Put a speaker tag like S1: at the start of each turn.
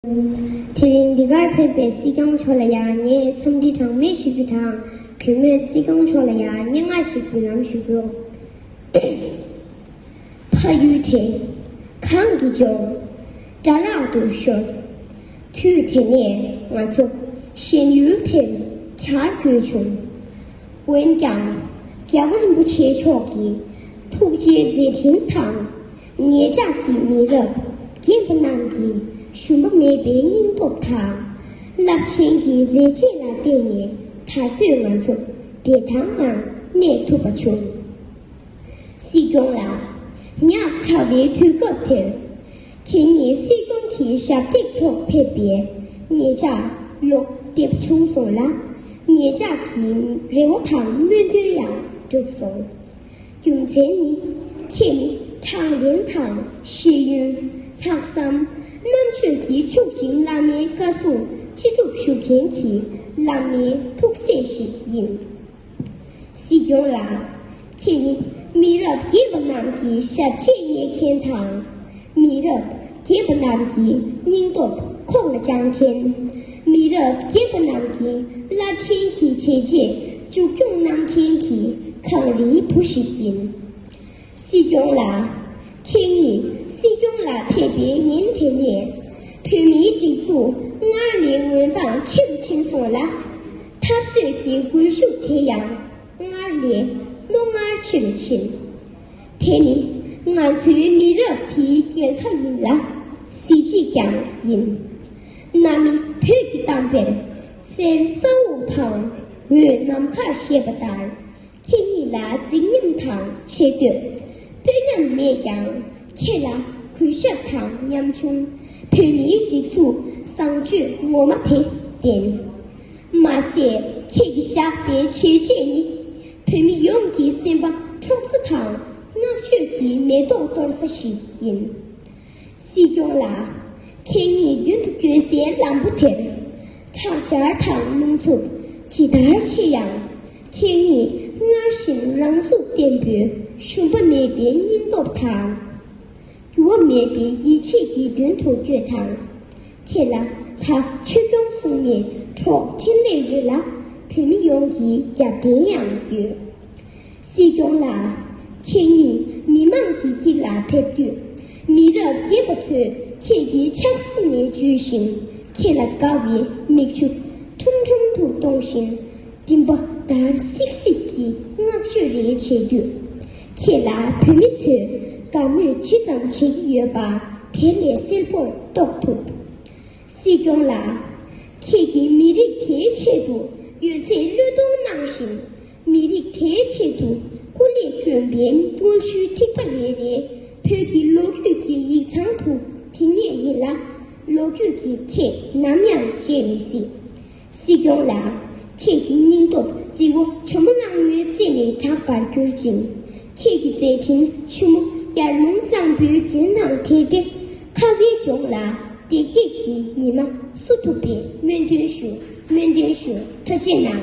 S1: དེ་རིང་འདི་གར་ཕེབས་པའི་སྲིད་སྐྱོང་མཆོག་ལ་ཡང་ངས་འཚམས་འདྲི་གྲངས་མེད་ཞུ་རྒྱུ་དང་གུས་མོས་སྲིད་སྐྱོང་མཆོག་ལ་ཡང་སྙན་ངག་ཞིག་འབུལ་ལམ་ཞུ་རྒྱུ། ཕ་ཡུལ་དེ་གང་གི་ལྗོངས་དགྲ་ལག་ཏུ་ཤོར། དུས་དེ་ནས་ང་ཚོ་གཞན་ཡུལ་དེར་གྱར་དགོས་བྱུང། འོན་ཀྱང་རྒྱལ་བ་རིན་པོ་ཆེ་མཆོག་གི་ཐུགས་རྗེའི་མཛད་འཕྲིན་དང། ངེད་ཅག་གི་མི་རབས་རྒན་པོ་རྣམས་ཀྱིས་ཞུམ་པ་མེད་པའི་སྙིང་སྟོབས་དང། རླབས་ཆེན་གྱི་མཛད་རྗེས་ལ་བརྟེན་ནས་ད་གཟོད་ང་ཚོ་བདེ་ཐང་ངང་གནས་ཐུབ་པ་བྱུང། སྲིད་སྐྱོང་ལགས། ཉག་ཕྲ་བའི་དུས་སྐབས་དེར། ཁྱེད་ཉིད་སྲིད་སྐྱོང་གི་ཞབས་སྟེགས་ཐོག་ཕེབས་པས་ངེད་ཅག་བློ་བདེ་བྱུང་སོང་ལ། ངེད་ཅག་གི་རེ་བ་དང་སྨོན་འདུན་ཡང་འགྲུབ་སོང། རྒྱུ་མཚན་ནི། ཁྱེད་ནི་དྲང་བདེན་དང་ཤེས་ཡོན། ལྷག་བསམ། རྣམ་དཔྱོད་ཀྱིས་ཕྱུག་ཅིང་བླ་མའི་བཀའ་སྲུང་ཅི་སྒྲུབ་ཞུ་མཁན་གྱི་བླ་མའི་ཐུགས་སྲས་ཤིག་ཡིན། སྲིད་སྐྱོང་ལགས། ཁྱེད་ནི་མི་རབས་རྒས་པ་རྣམས་ཀྱི་ཞབས་རྗེས་བསྙེག་མཁན་དང། མི་རབས་རྒས་པ་རྣམས་ཀྱི་སྙིང་སྟོབས་ཁོག་ལ་བཅངས་མཁན། མི་རབས་རྒས་པ་རྣམས་ཀྱི་རླབས་ཆེན་གྱི་བྱས་རྗེས་མཇུག་སྐྱོང་གནང་མཁན་གྱི་གངས་རིའི་བུ་ཞིག་ཡིན། སྲིད་སྐྱོང་ལགས། ཁྱེད་ཉིད་སྲིད་སྐྱོང་ལ་ཕེབས་པའི་ཉིན་དེ་ནས་བོད་མིའི་སྒྲིག་འཛུགས་སྔར་ལས་འོད་མདངས་ཆེ་རུ་ཕྱིན་སོང་ལ། འཐབ་རྩོད་ཀྱི་སྒུལ་ཤུགས་དེ་ཡང་སྔར་ལས་རྣོ་ངར་ཆེ་རུ་ཕྱིན། དེ་ནི་ང་ཚོའི་མི་རབས་དེའི་རྒྱལ་ཁ་ཡིན་ལ་གཟི་བརྗིད་ཀྱང་ཡིན། གནའ་མི་བོད་ཀྱི་གཏམ་དཔེར་གསེར་ས་འོག་དང་འོད་ནམ་མཁར་བཤད་པ་ལྟར་ཁྱེད་ཉིད་ལ་རྫིག་ཉམས་དང་ཆེ་བསྟོད་དཔོན་ཉམས་མེད་ཀྱང་ཁྱེད་ལ་གུས་ཞབས་དང་ཉམ་ཆུང་བོད་མིའི་སྒྲིག་འཛུགས་བཟང་སྤྱོད་ངོ་མ་དེ་ལྡན། མ་ཟད་ཁྱེད་ཀྱི་བཞག་པའི་བྱས་རྗེས་ནི་བོད་མི་ཡོངས་ཀྱི་སེམས་པ་འཕྲོག་ས་དང་བསྔགས་བརྗོད་ཀྱི་མེ་ཏོག་གཏོར་ས་ཞིག་ཡིན། སྲིད་སྐྱོང་ལགས། ཁྱེད་ཉིད་རྒྱུན་དུ་བསྐྱོད་སའི་ལམ་བུ་དེར། ཁྲག་འབྱར་དང་རླུང་འཚུབ་ཇི་ལྟར་ཆེ་ཡང། ཁྱེད་ཉིད་སྔར་བཞིན་རང་ཚུགས་བརྟན་པོས་ཞུམ་པ་མེད་པའི་སྙིང་སྟོབས་དང། འགྱུར་བ་མེད་པའི་ཡིད་ཆེས་ཀྱིས་མདུན་དུ་སྐྱོད་དང། ཁྱེད་ལ་ལྷ་ཆོས་སྐྱོང་གསུམ་ནས་འཕྲོག་འཕྲིན་ལས་ཡོད་ལ་བོད་མི་ཡོངས་ཀྱི་རྒྱབ་རྟེན་ཡང་ཡོད། སྲིད་སྐྱོང་ལགས། ཁྱེད་ཉིད་མི་མང་གི་དཀྱིལ་ལ་ཕེབས་དུས། མི་རབས་རྒན་པ་ཚོས་ཁྱེད་ཀྱི་ཕྱག་ཟུང་ནས་འཇུས་ཤིང་ཁྱེད་ལ་དགའ་བའི་མིག་ཆུ་ཁྲུམ་ཁྲུམ་དུ་གཏོང་བཞིན། སྤྲིན་པ་ལྟར་སིག་སིག་གི་བསྔགས་བརྗོད་རེ་བྱེད་དུས། ཁྱེད་ལ་བོད་མི་ཚོས་དགའ་མོས་ཇི་ཙམ་བྱེད་ཀྱི་ཡོད་པ་དེ་ལས་གསལ་པོར་རྟོགས་ཐུབ། སྲིད་སྐྱོང་ལགས། ཁྱེད་ཀྱིས་མི་རིགས་དེའི་ཆེད་དུ་ཡོད་ཚད་བློས་གཏོང་གནང་བཞིན་མི་རིགས་དེའི་ཆེད་དུ་སྐུ་ལས་བསྐྱོན་པའི་དངོས་བཤུལ་ཐིགས་པ་རེ་རེ་བོད་ཀྱི་ལོ་རྒྱུས་ཀྱི་ཡིག་ཚང་དུ་བྲིས་ངེས་ཡིན་ལ། ལོ་རྒྱུས་ཀྱིས་ཁྱེད་ནམ་ཡང་བརྗེད་མི་སྲིད། སྲིད་སྐྱོང་ལགས། ཁྱེད་ཀྱི་སྙིང་སྟོབས་རི་བོ་ཆུ་མོ་གླང་མོའི་རྩེ་ནས་གྲགས་པར་གྱུར་ཅིང། ཁྱེད་ཀྱི་མཛད་འཕྲིན་ཆུ་མོ་ཡར་ཀླུང་གཙང་པོའི་རྒྱུན་དང་འདྲེས་ཏེ། ཁ་བའི་ལྗོངས་ལ་བདེ་སྐྱིད་ཀྱི་ཉི་མ་བསུ་ཐུབ་པའི་སྨོན་འདུན་ཞུ་སྨོན་འདུན་ཞུ་ཐུ་ཆེ་གནང།